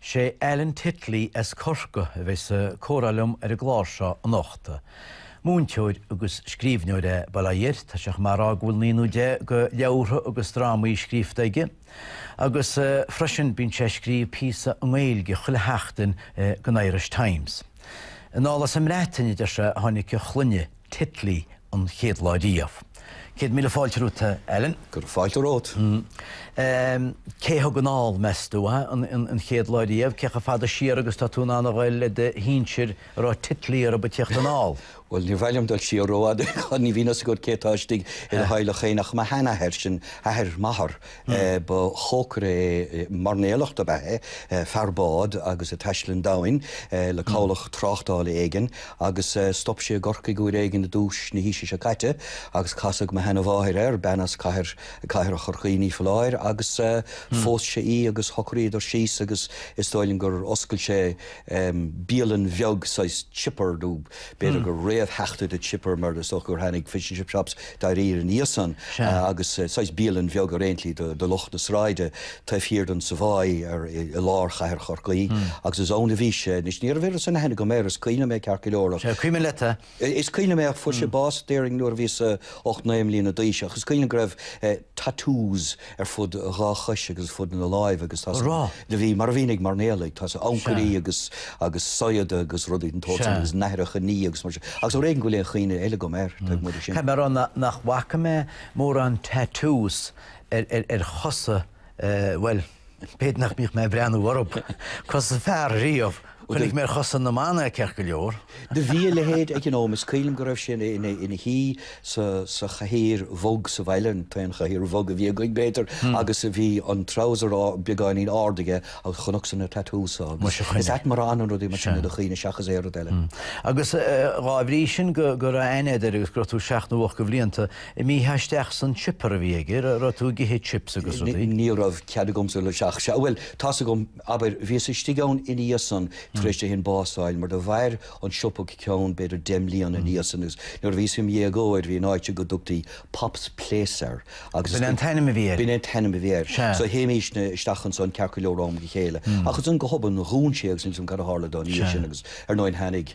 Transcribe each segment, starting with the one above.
Sé Alan Titley as Corcaigh a bheidh sa comhrá liom ar an gclár seo anocht. Múinteoir agus scríbhneoir é bail ó Dhia air, tá sé chomh maith a rá go bhfuil naoi nó deich de leabhartha agus drámaí scríofta aige, agus freisin bíonn sé ag scríobh píosa i nGaeilge chuile sheachtain don Irish Times. Anall as an mBreatain, a deir sé, a tháinig a shloinne. Titley an chéad lá riamh. Céad míle fáilte romhat, a Alan. Go raibh fáilte romhat. Cé a thug anall, meas tú, an chéad lá riamh? Cé chomh fada siar agus tá tú in ann a dhul le do shinsir a raibh Titley orthu ag teacht anall? Bhuel, níor mhaith liom dul siar rófhada, ní bhíonn a fhios agat cé atá istigh i do theaghlach féin ach mo sheanathair, sin athair m'athar, Ba chócaire é, mairnéalach dob ea é, fear báid agus é ag taisteal an domhain le cabhlach tráchtála éigin agus stop sé i gCorcaigh uair éigin i dtús na haoise seo caite agus casadh mo sheanamháthair air, bean as cathair, cathair Chorcaí ní foláir, agus phós sé í agus shocraíodar síos agus is dóigh liom gur oscail sé bialann bheag, saghas chipper nó b'fhéidir gur réamhtheachtaí de chipper mar is dócha gur tháinig fish and chip shops tar éis ina dhiaidh san agus saghas bialann bheag ar aon tslí do lucht na sráide taobh thiar den Savoy i lár chathair Chorcaí agus is ann a bhí sé. Anois, ní raibh an-aithne agam air, is cuimhin liom é ceart go leor ach. Is cuimhin leat é. Is cuimhin liom é ach fuair sé bás déarfainn nuair a bhíos-sa ocht naoi mbliana d'aois ach is cuimhin liom go raibh tattoos, ar fud a dhá chois agus ar fud na láimh agus tá's agat do bhí, mar a bhíonn ag mairnéalaigh, tá's agat ancairí Sea. agus agus saigheada agus rudaí den tsórt sin Sea. agus nathracha nimhe agus mar sin, agus ar éigean go bhfuil aon chuimhne eile agam air, taobh amuigh de sin. Tá mé a rá nach bhfaca mé mórán tattoos ar ar ar chosa, bhuel, b'fhéidir nach mbíodh mé ag breathnú orthu, cosa fear riamh! Chonaic mé ar chosa na mban é ceart go leor. Do bhí a leithéid aige an uair sin, is cuimhin liom go raibh sé ina shuí sa chathaoir bhog sa bhaile, an t-aon chathaoir bhog a bhí againn, b'fhéidir, agus bhí an treabhsar beagáinín ard aige agus chonacsa na tattoos agus is ait mar a fhanann rudaí mar sin i do chuimhne seachas aon rud eile. Agus dhá bhrí sin go raibh aithne agat air agus go raibh tú seacht nó ocht de bhlianta, an mbítheá istigh san chipper a bhí aige, raibh tú ag ithe chips agus rudaí? Ní raibh cead agamsa dul isteach, sea, bhuel, tá's agat, Abair, bhíos istigh ann ina dhiaidh san tar éis dó san bás a fháil, mar do mhair an siopa go ceann b'fhéidir deich mbliana ina dhiaidh sin, agus nuair a bhíos im dhéagóir, bhí an áit go dtugtaí Pop's Place air, agus is B'in é an t-ainm a bhí air? B'in é an t-ainm a bhí air. Sea. So théimístne isteach ansan ceart go leor ó am go chéile, ach ansan go hobann, dhún sé agus níl 's agam cad a tharla dó ina dhiaidh Sea. sin, agus ar ndóigh tháinig,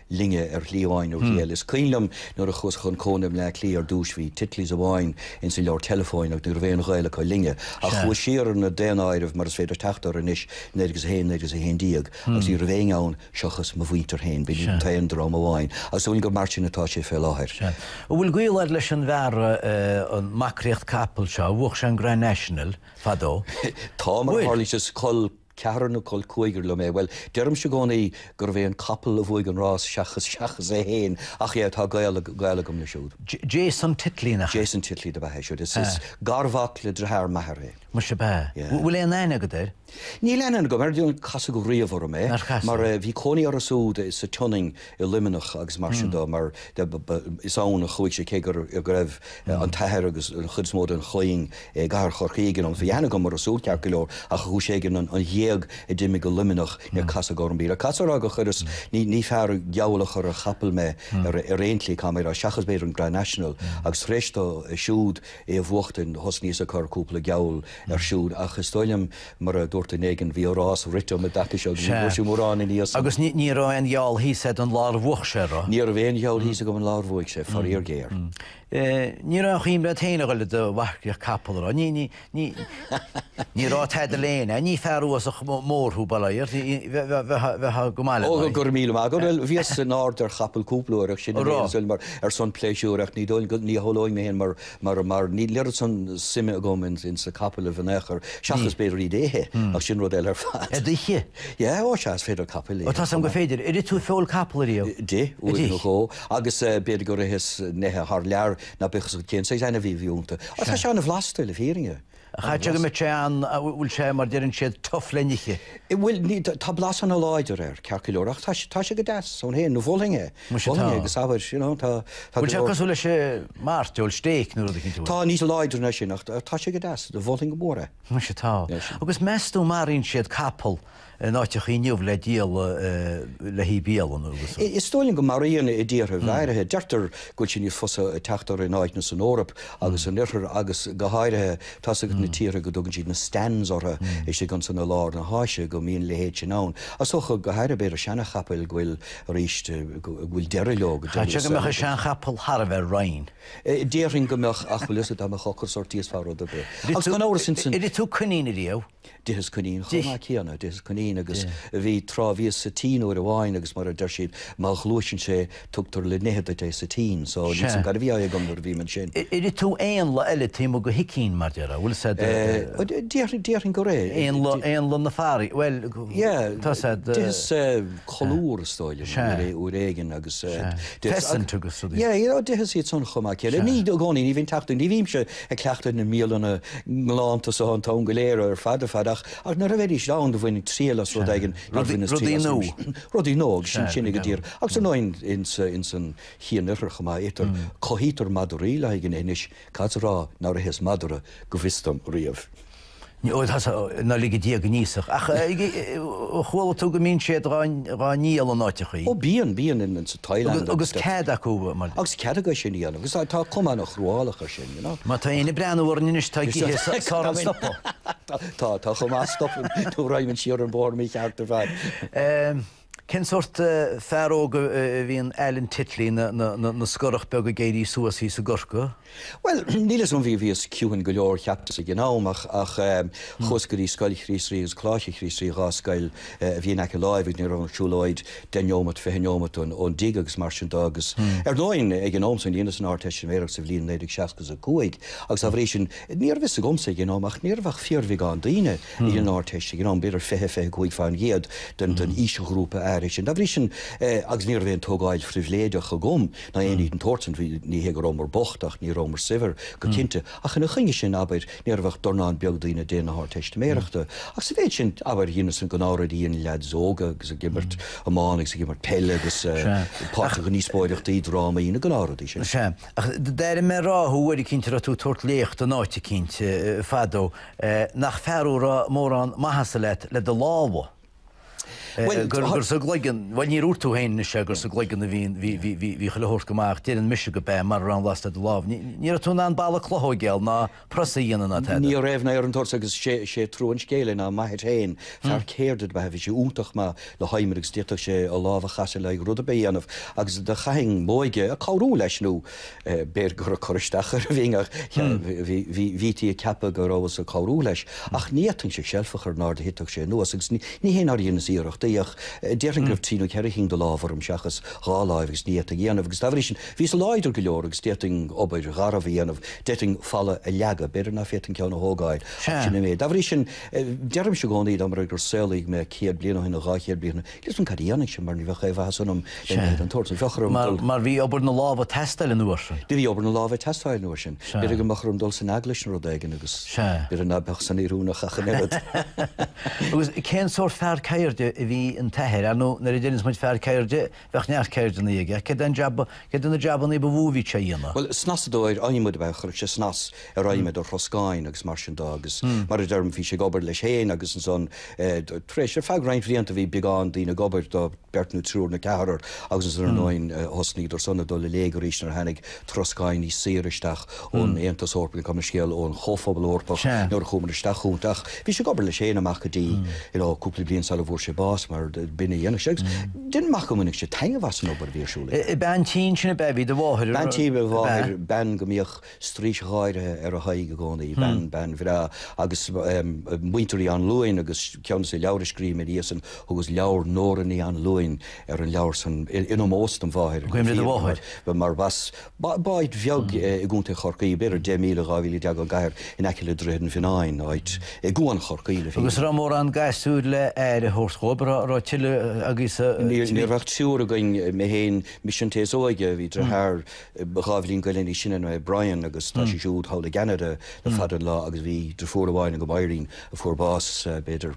sinne ar shlí amháin nó shlí eile. Is cuimhin liom nuair a chuas chun cónaithe i mBleá Cliath ar dtúis bhí Titley's amháin ins an leabhar teileafóin agus ní raibh aon ghaol acu linne. Ach chuas siar ar na daonáirimh mar is féidir teacht orthu anois, 1901, 1911, agus ní raibh éinne ann seochas mo mhuintir féin, b'in an t-aon dream amháin, agus is dóigh liom gur mar sin atá sé fé láthair. An bhfuil gaol agat leis an bhfear, an marcaíocht capall seo, a bhuach sé an Grand National fadó? Tá, mar a tharlaíonn sé, is col Col ceathrar nó col cúigear liom é. Bhuel, deirimse i gcónaí gurbh é an capall a bhuaigh an rás seachas seachas é féin, ach é tá gaol agam leis siúd. Jason Titley, an ea? Jason Titley dob ea é siúd. Is is garmhac le driotháir m'athar é. Muise, ab ea? Yeah. Bhfuil aon aithne agat air? Níl aithne agam air, níor casadh riamh orm é. Nár chasadh? Mar eh bhí cónaí orthu súd sa tSionainn i Luimneach agus mar sin dó, mar is ann a chuaigh sé, cé go raibh an t-athair agus an chuid is mó den chloinn i gcathair Chorcaí ag an am. Bhí aithne agam orthu súd ceart go leor, ach ar chúis éigin, an ghéag a d'imigh go Luimneach, níor casadh orm í. Le cad so a rá gur chuireas, ní fear geall a chur ar chapall mé ar aon tslí, cá mé ag rá, seachas b'fhéidir an Grand National, agus tar éis dó siúd é a bhuachtaint, thosnaíos ag cur cúpla geall air siúd, ach is dóigh liom, Mar a dúirt duine éigin, bhí a rás rite um an dtaca seo agus ní bhfuaireas mórán airgid as. Agus ní raibh aon gheall thíos a'd an lá ar bhuach sé, an raibh. Ní raibh aon gheall thíos agam an lá ar bhuaigh sé, faraor géar. Ní raibh aon chuimhneamh a'd féin a dhul i do mharcach capall, an raibh. Ní raibh tada le déanamh a'd. Ní fear uafásach mór thú, bail air. Bheifeá go maith aige. Ó, go raibh míle maith agat. Bhuel, bhíos in ard ar chapall cúpla uair ach sin an aon saol mar, ar son pléisiúir, ach ní dóigh, ní shamhlóinn mé féin mar mar, mar níl oiread san suime agam in, in sna capaill in aon chor, seachas b'fhéidir iad a ithe, ach sin rud eile ar fad. Iad a ithe? Yeah, ó sea, is féidir capaill a ithe. Ó tá a fhios a'm gur féidir. Ar ith tú feoil capall ariamh? D'ith, uair nó dhó, agus b'fhéidir gur itheas neithe thar lear, ná bíodh a fhios agat cén saghas ainmhí a bhí ionta. Ó tá sé an-bhlasta, le fírinne. Chaithfeadh go mbeadh sé an, an bhfuil sé mar deireann siad tough le n-ithe? Bhuel, ní, tá blas ana láidir air, ceart go leor, ach tá sé, tá sé go deas ann féin, mholfainn é, mholfainn é d'éinne, you know, tá, tá go leor. An bhfuil sé cosúil leis an mairteoil, steak nó rud eicínt mar sin? Tá, níos láidre ná sin, ach tá sé go deas, mholfainn go mór é. Anois atá. Anois. Agus meas tú maraíonn siad capall in áiteachaí inniu le díol le haghaidh bialann agus. Is dóigh liom go maraíonn i dtíortha áirithe, deirtear go bhfuil sé níos fusa teacht orthu in áiteanna san Eoraip agus san Oirthear agus go háirithe tá's agat na tíortha go dtugann siad na stans orthu istigh ansan i lár na hÁise go mbíonn a leithéid sin ann. Is dócha go háirithe b'fhéidir seanachapaill go bhfuil a rás go bhfuil deireadh leo go deimhin is dócha. Chaithfeadh go mbeadh an seanchapall thar a bheith righin. Déarfainn go mbeadh ach bhfuil fhios a'd dá mbeadh ocras ort d'íosfá rud ar bith. Ó gan amhras, is ea. Ar ith tú coinín riamh? D'itheas coinín chomh maith céanna, d'itheas coinín agus bhí tráth, bhíos sa tSín uair amháin agus mar a deir siad, má ghluaiseann sé tugtar le n-ithe duit é sa tSín, so ní fios cad a bhí á ithe agam nuair a bhí mé ansin. Ar ith tú éanlaith eile taobh amuigh de sicín mar déarfá, bhfuil fhios a'd eh, déarfainn gur ith, éanlaith, éanlaith na farraige, bhuel, yeah, tá a fhios a'd, d'itheas colúr is dóigh liom, sea, uair éigin agus, pheasant agus rud, yeah, yeah, d'itheas iad san chomh maith céanna, ní i gcónaí, ní bhíonn teacht, ní bhímse, ag cleachtadh na mbialanna ngalánta so an t-am go léir ar fad ar fad ach nuair a bheidís ann do bhainfinn triail as rud éigin, rudaí nua agus sin sin ag an dtír agus ar ndóigh ins an chianoirthear chomh maith, itear, cothaítear madaraí le haghaidh an bhia anois, cá bhfios a rá nár itheas madra go bhfios dom riamh? Ó, tá sé, ná lig Dia go n-íosfadh. Ach chuala tú go mbíonn siad dhá ndíol in áiteachaí? Ó bíonn, bíonn, in sa Thailand agus stuff. Agus cead acu, mar. Agus cead acu sin a dhéanamh, agus tá cuma ana chruálach ar sin, you know. Má tá éinne ag breathnú orainn anois, atá ag ithe, is fearr stopadh. Tá, tá chomh maith stopadh nó rachaimid siar an bóthar mícheart ar fad. Cén sórt fear óg a bhí in Alan Titley ina scorach beag ag éirí suas thíos i gCorcaigh? Bhuel, níl 'fhios a'm, bhí, bhíos ciúin go leor cheapas ag an am ach, ach ehm, chuas go dtí Scoil Chríost Rí agus Coláiste Chríost Rí, dhá scoil a bhí in aice láimhe agus ní raibh ach siúlóid deich neomat, fiche neomat ón dtig agus mar sin de agus Ar ndóigh, ag an am san, dheineas an Ardteistiméireacht sa bhliain naoh déag seasca is a cúig agus dá bhrí sin, níorbh 'fhios agamsa ag an am ach níorbh ach fíorbheagán daoine. Dhein an Ardteist ag an am, b'fhéidir 20, 25 fén gcéad den aoisghrúpa áirithe sin. Dá bhrí sin, agus ní raibh aon tógáil phribhléideach agam ná aon ní den tsórt san, ní hé go rabhamar bocht ach ní rabhamar saibhir go cinnte, ach ina choinne sin, abair, ní raibh ach dornán beag daoine ag déanamh na hArdteistiméireachta. Ach sa mhéid sin, abair, dheineas na gnáthrudaí a dhéanann leads óga agus ag imirt iomána agus ag imirt peile agus páirteach i ndíospóireachtaí, drámaí, na gnáthrudaí sin. Sea. Ach d'airigh mé ag rá thú uair eicínt a raibh tú ag tabhairt léacht in áit eicínt fadó Nach fear a raibh mórán maitheasa leat le do lámha? Gur sa gcloigeann, bhuel, níor dhúirt tú féin anois é gur sa gcloigeann a bhí chuile shórt go maith ach déarfainn mise go b'ea mar ní raibh aon bhlas le do lámh. Ní raibh tú in ann balla cloch a thógáil ná prios a dhéanamh ná tada. Ní raibh ná aon ní den tsórt agus is é trua an scéil é ná m'athair féin, fear ceirde do b'ea, bhí sé iontach maith le hadhmad agus d'fhéadfadh sé a lámh a chasadh le haon rud ar bith a dhéanamh agus do chaithinn m'óige ag cabhrú leis nó, B'fhéidir gur ag cur isteach air a bhínn, ach bhítí ag ceapadh go rabhas ag cabhrú leis. Ach ní fhéadfainn seilf a chur in airde ná titfeadh sé anuas, agus ní hé nár dheineas iarrachtaí, ach déarfainn go raibh trí nó ceithre chinn de lámha orm seachas dhá láimh agus ní fhéadfainn a dhéanamh, agus dá bhrí sin bhíos láidir go leor agus d'fhéadfainn obair gharbh a dhéanamh, d'fhéadfainn falla a leagadh, b'fhéidir ná féadfainn ceann a thógáil, ach sin an méid. Dá bhrí sin, deirimse i gcónaí, dá mba rud é gur saolaíodh mé céad bliain ó shin nó dhá chéad bliain ó shin, ní fheadar cad a dhéanfainnse, mar ní bheadh aon mhaitheas ionam le haon ní den tsórt. Bheadh orm dul. Mar bhí obair na lámh ag teastáil an uair sin. Bhí obair na lámh ag teastáil an uair sin. Sea. B'fhéidir go mbeadh orm dul san eaglais nó rud éigin agus. Sea. B'fhéidir ná beadh san oiriúnach ach an oiread. Agus cén sórt fear ceirde a bhí in t'athair? Ar ndóigh, nuair a deireanns muid fear ceirde, bheadh neart ceirdeanna aige. Cé de na jabannaí ba mhó a bhí sé a dhéanamh? Bhuel, snasadóir adhmaid ab ea é. Chuirfeadh sé snas ar adhmad, ar throscáin agus mar sin de agus mar a deirim, bhí sé ag obair leis féin agus ansan tar éis, ar feadh roinnt bhlianta bhí beagán daoine ag obair dó, beirt nó triúr nó ceathrar agus ansan ar ndóin thosnaíodar san ag dul i léig arís nuair a tháinig troscáin níos saoire isteach ón Aontas Eorpach, nó ach go háirithe scéal, ón Chomhphobal Eorpach nuair a chuamar isteach chucu ach bhí sé ag obair leis féin amach go dtí you know cúpla bliain sara bhfuair sé bás mar b'in a dhéanadh sé agus déarfainn gur bhain sé taitneamh as an obair a bhí ar siúl aige. Bean tí ansin ab ea a bhí do mháthair? Bean tí a bhí do mháthair, bean go mbíodh. straois gháire ar a h-aghaidh i gcónaí, bean, bean bhreá agus muintir Uí Anluain agus ceann de leabhair a scríobh mé níos déanaí, thugas leabhar Nóra Ní Anluain ar an leabhar san in ómós don mháthair, I gcuimhne do mháthair. mar sin. B'áit bheag i gContae Chorcaí, b'fhéidir deich míle, dhá mhíle deag ón gcathair, in aice le Droichead an Mhionnáin, áit i gCuan Chorcaí le fírinne. Agus an raibh mórán gasúir le aire a thabhairt dhóibh, an raibh tuilleadh agaibh sa Ní raibh ach triúr againn, mé féin, mise an té is óige, bhí deartháir Dhá bhliain go leith níos sine Brian agus tá sé siúd thall i gCeanada le fada an lá agus bhí deirfiúr amháin agam, Irene, a fuair bás b'fhéidir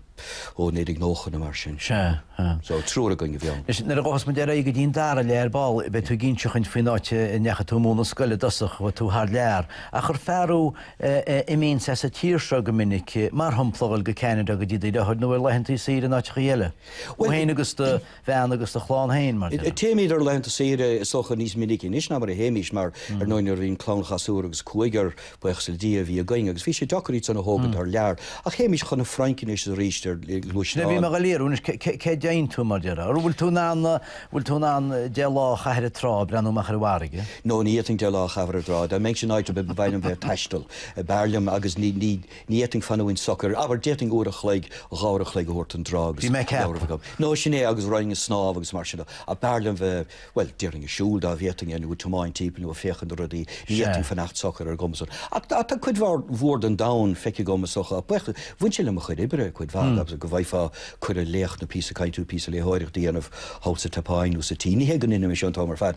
ó, 1990 nó mar sin. Sea, sea. So, triúr againn a bhí ann. Anois, nuair a ghabhfas muid ar aghaidh go dtí an dara leath ar ball beidh tú ag inseacht dúinn faoin áit a ndeachaigh tú ag múineadh scoile i dtosach, chuaigh tú thar lear. Ach ar fear thú a imíonns as an tír seo go minic, mar shompla, dhul go Ceanada go dtí do dheartháir nó ar laethanta saoire in áiteacha eile, thú féin agus do. bhean agus do chlann féin, mar dhea. Téimid ar laethanta saoire, is dócha, níos minice anois ná mar a théimís, mar ar ndóigh, nuair a bhíonn clann gasúr agus cúigear, buíochas le Dia, a bhí againn, agus bhí sé deacair iad san a thógaint thar lear, ach théimís chun na Fraince anois is arís ar ghluaisteán. Sin a bhí mé ag iarraidh anois, cá dtéann tú, mar dhea, ar? An bhfuil tú in ann, an bhfuil tú in ann deich lá a chaitheamh ar an trá, breathnú amach ar an bhfarraige? No, ní fhéadfainn deich lá a chaitheamh ar an dtrá, dá mbeinn san áit, ba mhaith liom bheith ag taisteal, b'fhearr liom, agus ní, ní, Ní fhéadfainn fanúint socair, abair, d'fhéadfainn uair a chloig, dhá uair a chloig a thabhairt ar an dtrá agus leabhar agam. Bhí mé ag ceapadh. No, sin é, agus raghainn ag snámh agus mar sin de. Ach b'fhearr liom bheith, bhuel, déarfainn ag siúl, dá bhféadfainn é, nó ag tiomáint timpeall nó ag féachaint ar rudaí. Sea. Ní fhéadfainn fanacht socair ar an gcuma san. Ach tá, tá cuid mhór, mhór den domhan feicthe agam, is dócha. Ach féach, bhain sé le mo chuid oibre, cuid mhaith, agus go bhfaighfeá cuireadh léacht nó píosa cainte nó píosa léitheoireacht a dhéanamh thall sa tSeapáin nó sa tSín. Ní hé go ndeinimis an t-am ar fad,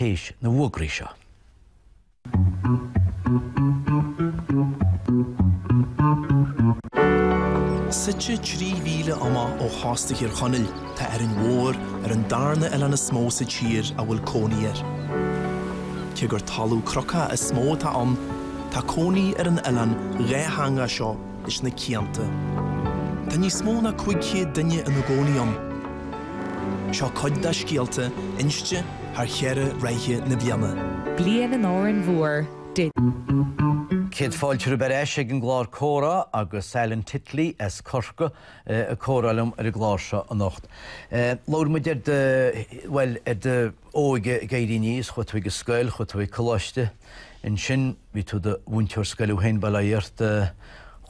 tar éis na bhfuagraí seo. Suite trí mhíle amach ó chósta Thír Chonaill, tá Árainn Mhór ar an darna oileán is mó sa tír a bhfuil cónaí air. Cé gur talamh crocach is mó atá ann, tá cónaí ar an oileán dátheangach seo, leis na cianta. Tá níos mó ná 500 duine ina gcónaí ann. Seo cuid dá scéalta, inste thar cheithre ráithe na bliana. Bliain in Árainn Mhór. Céad fáilte romhaibh ar ais ag an gclár Comhrá agus Alan Titley as Corcaigh ag comhrá liom ar an gclár seo anocht. Labhair muid ar, bhuel, ar. óige ag éirí aníos, chuaigh tú ag an scoil, chuaigh tú ag coláiste, ansin bhí tú i do mhúinteoir scoile féin, bail ó Dhia ort,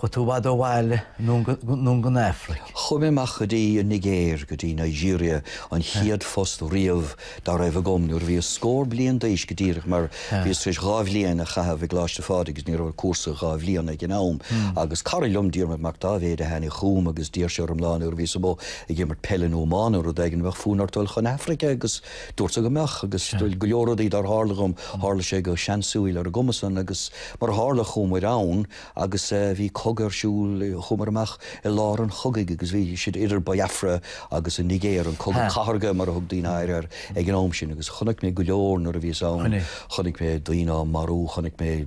chuaigh tú i bhfad ó bhaile, anonn go dtí an Afraic. Chuaigh mé amach go dtí an Nigéir, go dtí Nigeria, an chéad phost riamh dá raibh agam, nuair a bhíos scór bliain d'aois go díreach, mar bhíos tar éis dhá bhliain a chaitheamh i gColáiste Phádraig agus ní raibh ach cúrsa dhá bhliana ag an am, agus cara liom, Diarmaid Mac Dáibhéid, a tháinig chugam agus dúirt sé liom lá nuair a bhíos amuigh, ag imirt peile nó iomána nó rud éigin, bheadh fonn ort dul chun Africa agus dúrt go mbeadh agus go leor rudaí dár tharla dhom, tharla sé go seansúíl ar an gcuma san agus mar a tharla chuaigh muid ann agus bhí cogadh ar siúl, chuaigh muid amach i lár an chogaidh agus bhí siad idir Biafra agus an Nigéir, an cogadh cathardha mar a thug daoine air ag an am sin agus chonaic mé go leor nuair a bhíos ann, chonaic mé daoine á marú, chonaic mé.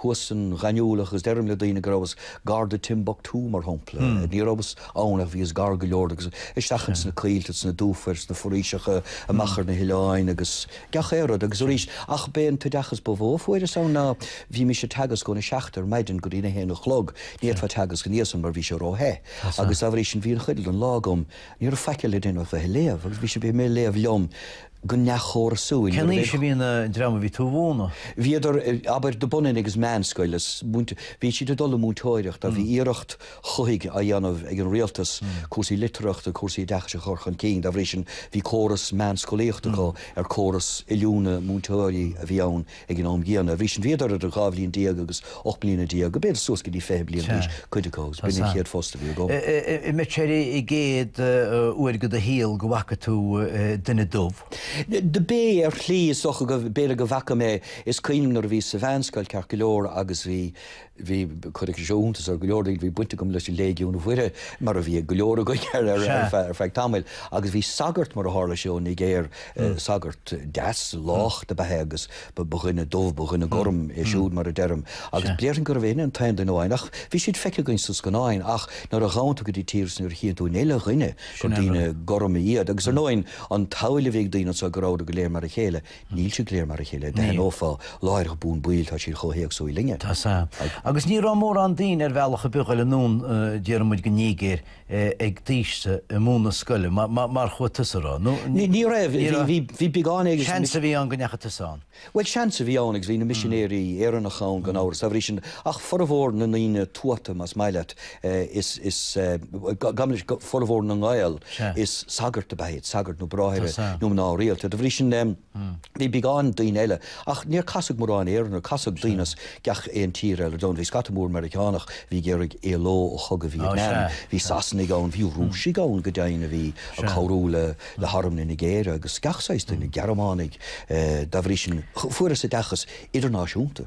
thuas san ghaineamhlach agus deirim le daoine go rabhas gar do Timbuktu, mar shampla. Ní rabhas ann ach bhíos gar go leor agus isteach ins na coillte, sna dufair, sna foraoiseacha, amach ar na hoileáin agus gach aon rud. Agus arís, ach b'é an t-oideachas ba mhó a fuaireas ann ná, bhínnse ag teagasc óna seacht ar maidin go dtí'n a haon a chlog, ní fhéadfá teagasc ina dhiaidh san mar bhí sé ró-the. Agus dá bhrí sin bhí an chuid eile den lá agam, ní raibh faic eile le déanamh ach bheith ag léamh. Agus bhínn ag léamh liom. go neamhchórasúil. Cén aois a bhí an dream a bhí tú a mhúineadh? Bhíodar, abair, de bhun an agus meánscoil is múinte-, bhí siad ag dul i múinteoireacht, ach bhí iarracht chuthaigh á dhéanamh ag an rialtas, cúrsaí litearthachta, cúrsaí oideachais a chur chun cinn, dá bhrí sin bhí córas meánscolaíochta acu ar córas oiliúna múinteoirí a bhí ann Ag an am gcéanna, dá bhrí sin, bhíodar idir dhá bhliain déag agus ocht mbliana déag, go b'fhéidir suas go dtí fiche bliain d'aois, cuid acu, agus b'in an chéad phost a bhí agam. An mb'in é an chéad uair i do shaol go bhfaca tú duine dubh? Do b'é, ar shlí, is dócha go, b'fhéidir go bhfaca mé, is cuimhin liom nuair a bhíos sa mheánscoil, ceart go leor, agus bhí, Bhí, cuirfidh sé seo iontas ar go leor daoine, bhí baint agam leis Léigiún Mhuire, mar a bhí ag go leor againn ar feadh tamaill, agus bhí sagart, mar a tharla sé, ón Nigéir, sagart deas lách do b'ea é agus ba dhuine dubh, ba dhuine gorm é siúd, mar a deirim, agus déarfainn gurbh é an t-aon duine amháin, ach bhí siad feicthe againn sna scannáin, ach nuair a ghabhann tú go dtí tír is nuair a chíonn tú an uile dhuine gur daoine gorma iad, agus ar ndóigh an tsamhail a bhí ag daoine anseo go rabhadar go léir mar a chéile, Níl siad go léir mar a chéile, d'aithneofá láithreach bonn baill, tá siad chomh héagsúil linne. Tá, sea. Agus ní raibh mórán daoine ar bhealach ag gabháil anonn déarfaidh muid go Nigéir ag d'aois-sa, ag múineadh scoile, mar chuaigh tusa a raibh, nó Ní raibh, bhí beagán éigin. Seans a bhí ann go ndeachaigh tusa ann. Bhuel, seans a bhí ann agus bhí na misinéirí Éireannacha ann gan amhras, dá bhrí sin, ach formhór na ndaoine tuata, más maith leat, is dóigh liom formhór na nGael is sagairt ab ea iad, sagairt nó bráithre nó mná rialta. De bhrí sin bhí beagán daoine eile, ach níor casadh mórán Éireannach orm, casadh daoine as gach aon tír eile domh. Bhí scata mór Meiriceánach a bhí ag iarraidh éaló ó chogadh Vítneam, bhí Sasanaigh ann, bhí Rúisigh ann go deimhin a bhí ag cabhrú le harm na Nigéire agus gach saghas duine, Gearmánaigh. Dá bhrí sin fuaireas oideachas idirnáisiúnta.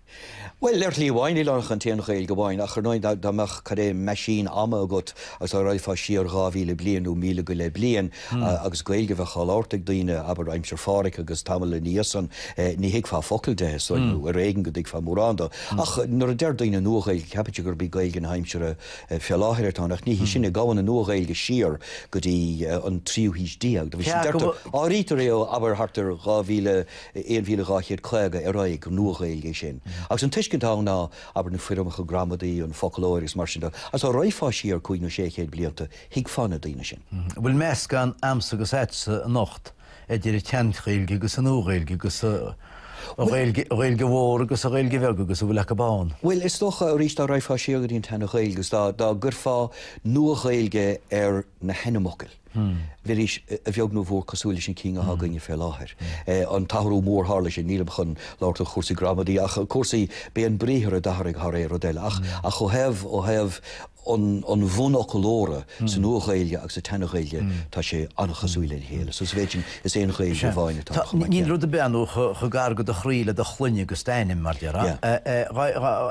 Bhuel, ar shlí amháin, níl ann ach an t-aon Ghaeilge amháin, ach, ar ndóigh, dá mbeadh, cad é, meaisín ama agat agus dá raghfá siar dhá mhíle bliain nó míle go leith bliain agus Gaeilge a bheadh á labhairt ag daoine, abair, aimsir Pháraic agus tamall ina dhiaidh san, ní thuigfeá focal de, is dóigh, nó ar éigean go dtuigfeá mórán de. Ach nuair a deir daoine Nua-Ghaeilge, ceapann siad gurb í Gaeilge na haimsire fé láthair atá ann, ach ní hí sin é, gabhann an Nua-Ghaeilge siar go dtí an tríú haois déag, nó bhí, deirtear, áirítear é ó, abair, thart ar dhá mhíle, 1250 ar aghaidh, gur Nua-Ghaeilge é sin. Agus an tuiscint atá ann ná abair na foirmeacha gramadaí, an foclóir agus mar sin de, agus dá raghfá siar cúig nó sé chéad blianta, thuigfeá na daoine sin. An bhfuil meascán 'a'msa agus a'dsa anocht idir an tSeanGhaeilge agus an Nua-Ghaeilge agus an Ghaeilge Mhór agus an Ghaeilge Bheag agus a bhfuil acu ann? Bhuel, is dócha, arís, dá raghfá siar go dtí an tSeanGhaeilge agus dá gcuirfeá Nua-Ghaeilge ar na hainmfhocail, bheidís, a bheag nó a mhór cosúil leis na cinn atá againne fé láthair. An t-athrú mór, tharla sé, nílim chun labhairt ar chúrsaí gramadaí, ach cúrsaí, b'é an briathar a d'athraigh thar aon rud eile, ach ó thaobh, ó thaobh an bhunfhoclóra, sa Nua-Ghaeilge agus sa tSeana-Ghaeilge, tá sé an-chosúil lena chéile, so sa mhéid sin, is aon Ghaeilge amháin atá ann chomh maith céanna. Níl rud ar bith, ar ndóigh, chomh gar go do chroí le do shloinne agus d'ainm, mar déarfá.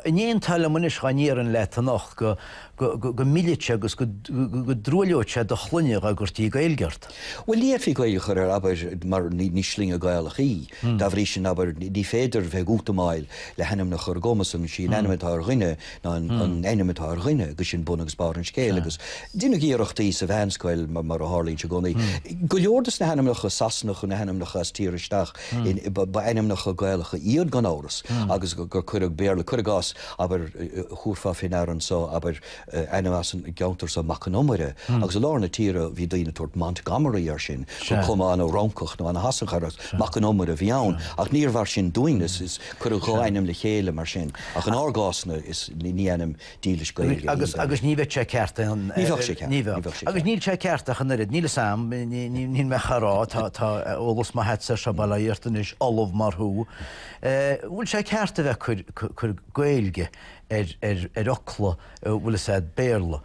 An aontófá liom anois, dhá ndéarfainn leat anocht go, go millfeadh sé agus go dtruailleodh sé do shloinne dhá gcuirtí Gaeilge ort. Bhuel, ní fhéadfaí Gaeilge a chur air, abair, mar ní sloinne Gaelach í. Dá bhrí sin, abair, ní féidir bheith ag útamáil le hainmneacha ar an gcuma san, is í an ainm atá ar dhuine ná an ainm atá ar dhuine agus sin bun agus barr an scéil. Agus deineadh iarrachtaí sa mheánscoil, mar a tharlaíonn sé i gcónaí, go leor des na hainmneacha Sasanacha, na hainmneacha as tír isteach, ba ainmneacha Gaelacha iad gan amhras agus gur cuireadh Béarla, cuir i gcás, abair, thabharfá fé ndeara anso, abair, ainm as an gceantar so, Mac an Iomaire, agus i lár na tíre bhí daoine ag tabhairt Montgomery air sin, chun cuma ana-Fhrancach nó ana-Shasanach a chur air, ach Mac an Iomaire a bhí ann. Ach níor mhar sin dúinn, is cuireadh dhá ainm le chéile mar sin, ach in ár gcás-na is ní ainm dílis Gaeilge a bhí ann. Agus ní bheadh sé ceart ach an oiread. Ní bheadh sé ceart, ní bheadh sé ceart. Agus níl sé ceart ach an oiread, níl fhios a'am, níl mé a' rá, tá eolas maith a'dsa ar seo, bail ó Dhia ort anois, ollamh mar thú, An bhfuil sé ceart a bheith ag cur Gaeilge ar fhocla, an bhfuil fhios a'd, Béarla?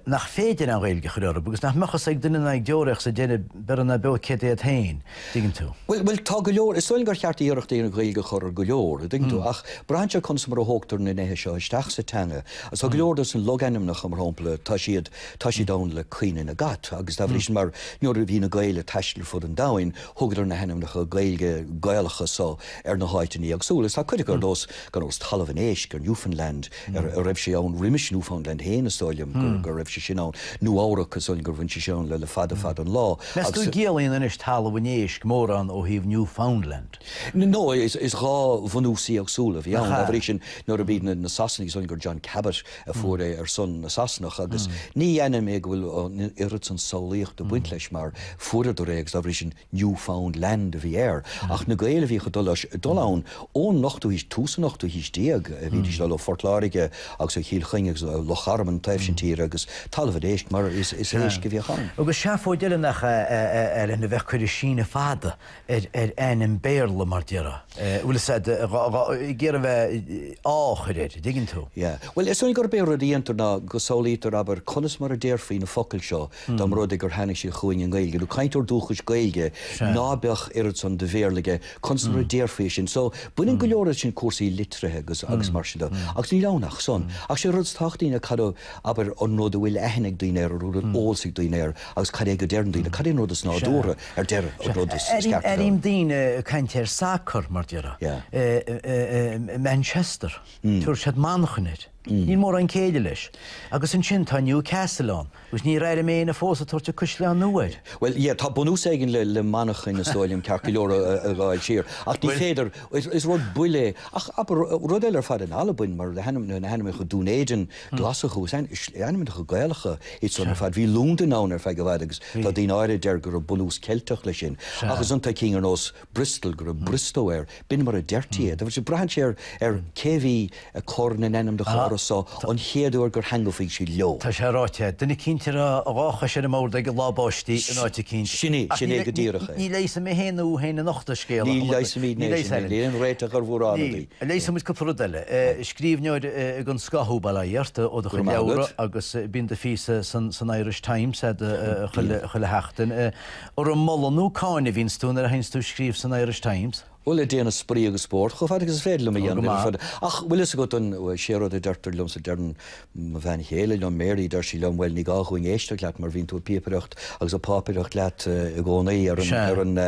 Nach féidir an Ghaeilge a chur orthu? Agus nach mbeadh fhios ag duine ná ag deoraí sa deireadh beirthe ná beo céard iad féin, an dtuigeann tú? Bhuel, tá go leor, is dóigh liom gur cheart iarracht a dhéanamh Gaeilge a chur ar go leor, an dtuigeann tú? Ach braitheann sé conas mar a thógtar na neithe seo isteach sa teanga. Agus tá go leor des na logainmneacha, mar shampla, tá siad, tá siad ann le cuimhne na gcat agus dá bhrí sin mar nuair a bhí na Gaeil ag taisteal ar fud an domhain, Thugadar na hainmneacha Gaeilge, Gaelacha so ar na háiteannaí éagsúla, is tá cuid acu ar nós gan amhras, Talamh an Éisc ar Newfoundland, a raibh sé ann roimis Newfoundland fhéin, is dóigh liom go raibh sé sin ann, Nua-Eabhrac, is dóigh liom gur bhain sé sin ann le fada fada an lá, agus. Meas tú an gciallaíonn anois Talamh an Éisc mórán ó thaobh Newfoundland? No, is dhá bhunús éagsúla a bhí ann, dá bhrí sin, nuair a bhí na Sasanaigh, is dóigh liom gur John Cabot, a fuair é ar son na Sasanach agus ní déarfainn go bhfuil an oiread san samhlaíocht ag baint leis mar fuaireadar é agus dá bhrí sin New Found Land a bhí air. Ach na Gaeil a bhíodh ag dul ann ón ochtú haois, tús an ochtú haois déag, bhídís ag dul ó Phort Láirge agus ó Chill Chainnigh agus ó Loch Garman, an taobh sin tíre agus talamh an éisc mar is éisc a bhíodh ann. Agus seafóid eile nach ea a bheith ag cur an síneadh fada ar ainm Béarla, mar a déarfá. Bhfuil 'fhios a'd, ag iarraidh bheith, á chur air, an dtuigeann tú? Yeah. Bhuel, is dóigh gurb é rud a dhéantar ná go samhlaítear, abair, conas mar a déarfaí na focail seo dá mba rud é gur tháinig siad chugainn i nGaeilge, nó cainteoir dúchais Gaeilge ná beadh oiread san de Bhéarla aige, conas mar a déarfaí é sin? So, baineann go leor de sin le cúrsaí litrithe agus mar sin de. Agus níl ann ach san. Ach sé an rud is tábhachtaí ná cad a, abair, an rud a bhfuil aithne ag daoine air, an rud a bhfuil eolas ag daoine air agus cad é go deireann daoine, cad é an rud is nádúrtha. Ar deireadh, an rud is ceart a dhéanamh. Airím daoine ag caint ar sacar, mar a déarfá. Manchester, tabhairt siad Manchain air. Níl mórán céille leis. Agus ansin, tá Newcastle ann, agus níor airigh mé éinne fós ag tabhairt An Caisleán Nua air. Bhuel, yeah, tá bunús éigin le Manchain, is dóigh liom, ceart go leor, ag gabháil siar, ach ní féidir, is rud buile é. Ach, abair, rud eile ar fad in Albain, mar na hainmneacha, Dún Éideann, Glaschú, is ainmneacha Gaelacha iad san ar fad. Bhí Londain ann ar feadh i bhfad agus tá daoine áirithe a deir go raibh bunús Ceilteach leis sin. Ach ansan tá cinn ar nós Bristol go raibh Briostó air, b'in mar a deirtí é. Braitheann sé ar cé a bhí ag cur na n-ainmneacha orthu so an chéad uair gur theangmhaigh siad leo. Tá sé ráite, duine eicínt agus a dhá chois ar an mbord aige lá báistí in áit eicínt. Sin é, sin é go díreach é. Ní leigheasfaidh mé féin ná thú féin anocht an scéal. Ní leigheasfaimid, níl aon réiteach ar mhórán rudaí. Leigheasfaidh muid cúpla rud eile. Scríbhneoir den scoth thú, bail ó Dhia ort, ó do chuid leabhra agus bíonn do phíosa san Irish Times chuile sheachtain. Ara, moladh nó cáineadh a bhíonns tú nuair a bhíonns tú ag scríobh san Irish Times? Bhuel, ag déanamh spraoi agus spórt chomh fada agus is féidir liom a dhéanamh, ach bhfuil fhios agat sé an rud a deirtear liomsa, deireann. mo bhean chéile liom, Mary, deir sí liom, 'Bhuel, ní gá dhúinn éisteacht leat mar bhíonn tú ag píopaireacht agus ag pápaireacht leat i gcónaí ar an, ar an,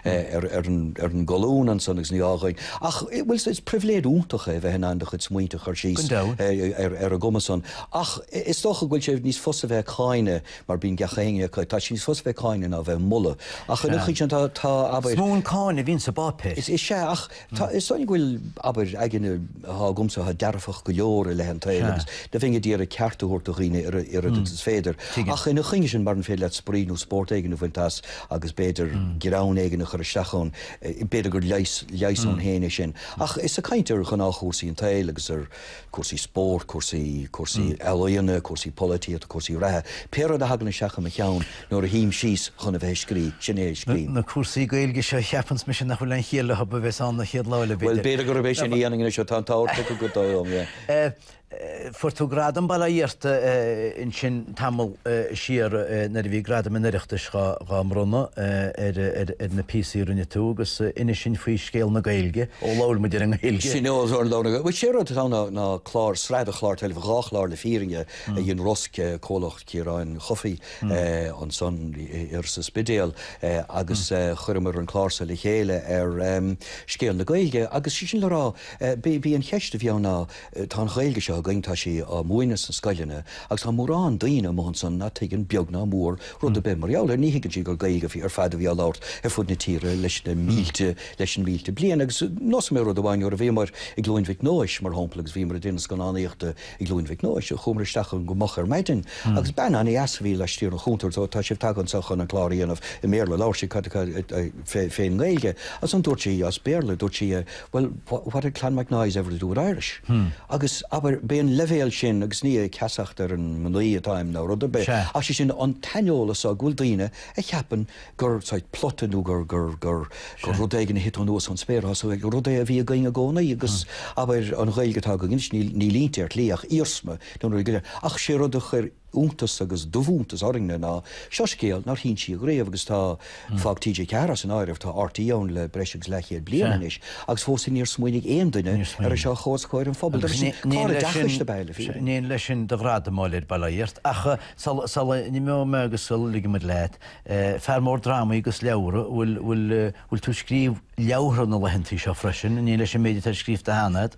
ar an, ar an gcolún ansan agus ní gá dhúinn. Ach, bhuel, is pribhléid iontach é bheith in ann do chuid smaointe a chur síos ar, ar an gcuma san. Ach is dócha go bhfuil sé níos fusa bheith ag cáineadh mar bíonn gach éinne ag, tá sé níos fusa bheith ag cáineadh ná bheith ag moladh. Ach ar an gcaoi sin tá, tá, abair. Is mó an cáineadh a bhíonns sa bpáipéar. Is ea ach. Tá 'fhios a'inn go bhfuil, abair, aigne atá agamsa atá dearfach go leor i leith an tsaoil agus go mbeinn ag iarraidh ceart a thabhairt do dhaoine oiread is féidir ach ina choinne sin maran féidir leat spraoi nó spórt éigin a bhaint as agus b'fhéidir greann éigin a chur isteach ann, b'fhéidir gur leigheas ann féin é sin. Ach is ag caint ar ghnáthchúrsaí an tsaoil agus ar. cúrsaí spóirt, cúrsaí, cúrsaí ealaíona, cúrsaí polaitíochta, cúrsaí reatha, pé rud a thagann isteach i mo cheann nuair a shuím síos chun a bheith ag scríobh, sin é a scríobhaim. Na cúrsaí Gaeilge seo, a cheapanns mise nach bhfuil aon chiall leofa, is ea a bheas ann an chéad lá eile, b'fhéidir. Bhuel, b'fhéidir gurb é sin a dhéanfainn anois, tá an t-ádh orthu go deo liom, yeah. Fuair tú gradam abhaile iontu ansin. tamall siar nuair a bhí gradaim an Oireachtais dhá mbronnadh ar na píosaí a rinne tú agus ceann acu sin faoi scéal na Gaeilge, ó labhair muid ar an nGaeilge. Sin é an rud a labhair mé. Bhuel, sé rud atá ann ná clár, sraith de chláir teilifíse, dhá chlár le fírinne, a dhein ROSG, comhlacht Chiaráin Uí Chofaigh ansan thiar sa Spidéal agus chuireamar an clár so le chéile ar scéal na Gaeilge agus sé sin le rá, b'í an cheist a bhí ann ná, Tá an Ghaeilge seo againn, tá sí á múineadh sna scoileanna agus tá mórán daoine amuigh ansan nach dtuigeann beag ná mór rud ar bith mar gheall uirthi. Ní thuigeann siad gur Gaeilge ar fad a bhí á labhairt ar fud na tíre leis na mílte leis na mílte bliain. Agus neosfaidh mé rud amháin, nuair a bhíomar i gCluain Mhic Nóis, mar shampla, agus bhíomar ag déanamh scannánaíochta i gCluain Mhic Nóis, chuamar isteach ann go moch ar maidin agus bean an-deas a bhí laistiar den chuntar, so tá sibh tagtha anseo chun an clár a dhéanamh i mBéarla, labhair sí, clár fén nGaeilge agus ansan dúirt sí as Béarla, dúirt sí, Well, what had Clonmacnoise ever to do with Irish? Agus, abair, b'é an leibhéal sin, agus ní ag ceasacht ar an mnaoi atáim ná rud ar bith, ach sé sin, an t-aineolas so go bhfuil daoine a cheapann gur, saghas, plota nó gur, gur, gur, gur rud éigin a thit anuas ón spéir atá sa Ghaeilge, rud é a bhí againn i gcónaí agus, abair, an Ghaeilge atá againn anois, níl, níl inti ar shlí ach iarsma den rud a bhí againn. Ach sé rud a chuir. iontas agus dubhiontas orainn-ne ná, seo scéal nár hinsíodh riamh agus tá, fág TG4 as an áireamh, tá RTÉ ann le breis agus leathchéad bliain anois agus fós níor smaoinigh aon duine ar é seo a chur os comhair an phobail. Agus clár oideachais ab ea é le fírinne. Ní ionadh leis sin do ghradam a thabhairt abhaile leat, ach sula n-imeoidh mé agus sula ligimid leat, fear mór drámaí agus leabhra, bhfuil tú ag scríobh leabhra na laethanta seo freisin, ní leis an méid atá scríobhta cheana agat?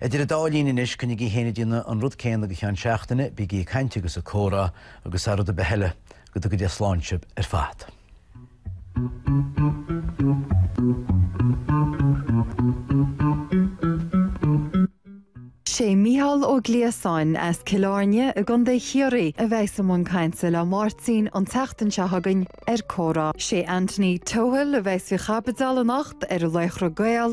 Idir an dá linn anois, coinnigí féin ag déanamh an rud céanna go ceann seachtaine, bígí ag caint agus ag comhrá agus thar rud ar bith eile, go dtuga Dia slán sibh ar fad. Sé Micheál Ó Gliasáin as Cill Áirne i gContae Chiarraí a bheidh i mbun cainte le Máirtín an tseachtain seo chugainn ar Comhrá. Sé Anthony Tohill a bheidh faoi chaibidil anocht ar Laochra Gael